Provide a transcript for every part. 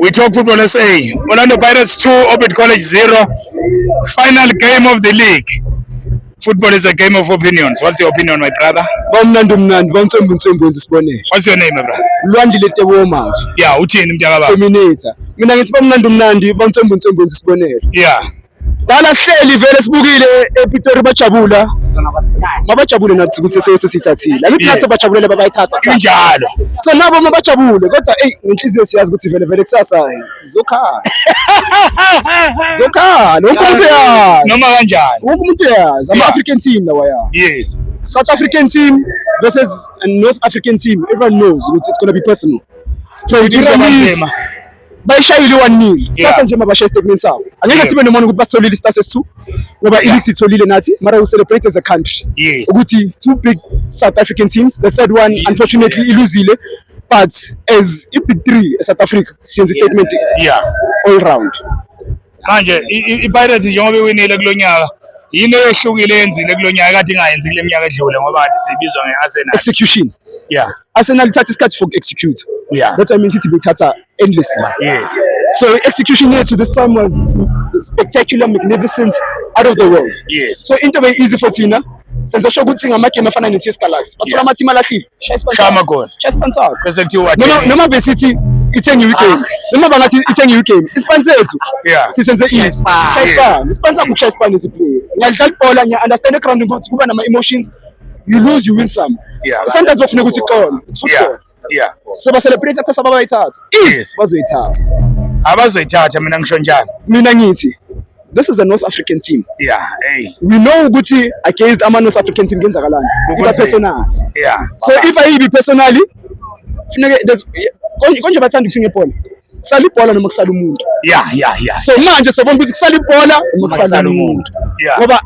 We talk football SA. Orlando Pirates 2, Orbit College 0. Final game of the league. Football is a game of opinions. What's your opinion, my brother? Bawumnandi umnandi, bawumthembu mthembu wenza isibonelo. What's your name, my brother? Lwandile Tebo Mavi. Yeah, uthini mntaka baba? Terminator. Mina ngithi bawumnandi umnandi, bawumthembu mthembu wenza isibonelo. Yeah. Dala sihleli vele sibukile ePitori bajabula. Mabajabule nathi ukuthi sesiyose sithathile. Angithi nathi bajabulele babayithatha. Kunjalo. So nabo mabajabule kodwa ey ngenhliziyo siyazi ukuthi vele vele kusasa zokhala. Zokhala. Wonke umuntu uyazi. Noma kanjani. Wonke umuntu uyazi. Ama African team lawa ya. Yes. South African team versus North African team. Everyone knows ukuthi it's going to be personal. So it is bayishayile i-one nil sasa nje mabashaye isitatimenti sabo angeke sibe nomona ukuthi basitholile isitasa esi-two ngoba i-league sitholile nathi mara we celebrate as a country ukuthi two big south african teams the third one unfortunately iluzile but as i-big three e-south africa siyenza isitatimenti all round manje iPirates njengoba iwinile kulo nyaka yini eyehlukile yenzile kulo nyaka kade ingayenzi kule minyaka edlule ngoba kade sibizwa nge-Arsenal execution yeah Arsenal ithatha isikhathi for execute yeah that's why I mean City bethatha endlessly yes so execution yethu this time was spectacular magnificent out of the world yes so into be easy for thina senze sho ukuthi ngamagame afana ne-TS Galaxy bathola amathimu alahlile shaya amagoli bese kuthiwa noma besithi ithenge i-game ah. noma bangathi ithenge i-game isipani sethu sisenze easy shaya isipani isipani sakho ukushaya isipani eziplayer ngiyadlala ibhola ngiya-understand egroundini ukuthi kuba nama-emotions you lose you win some sometimes bafuneka ukuthi xolo football yeah so ba celebrate kusasa babayithatha yes bazoyithatha abazoyithatha mina ngisho njani mina ngithi this is a North African team. Yeah, hey. We know ukuthi against ama North African team kenzakalani. Iba personal. Yeah. So if I be personally funeke there's konje bathanda ukusinga ibhola. Sala ibhola noma kusala umuntu. Yeah, yeah, yeah. So manje sobona ukuthi kusala ibhola noma kusala umuntu. Yeah. Ngoba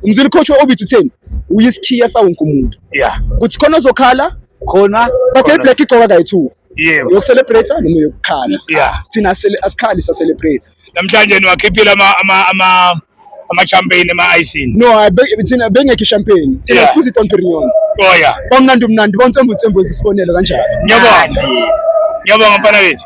umzwile ukhotshwe obithi utheni uyisikhiya sawonke umuntu yeah kuthi khona ozokhala khona bathe iblack igcoka kayi-two yebo yokucelebrate noma yokukhala yeah thina asikhali sacelebrate namhlanje niwakhiphile ama ama ama ama-champagne ema-icing no thina bengekho i-champagne thina siphuza i-don perignon oh yeah omnandi umnandi bontsembutsembu zisibonelo kanjani ngiyabonga ngiyabonga mfana wethu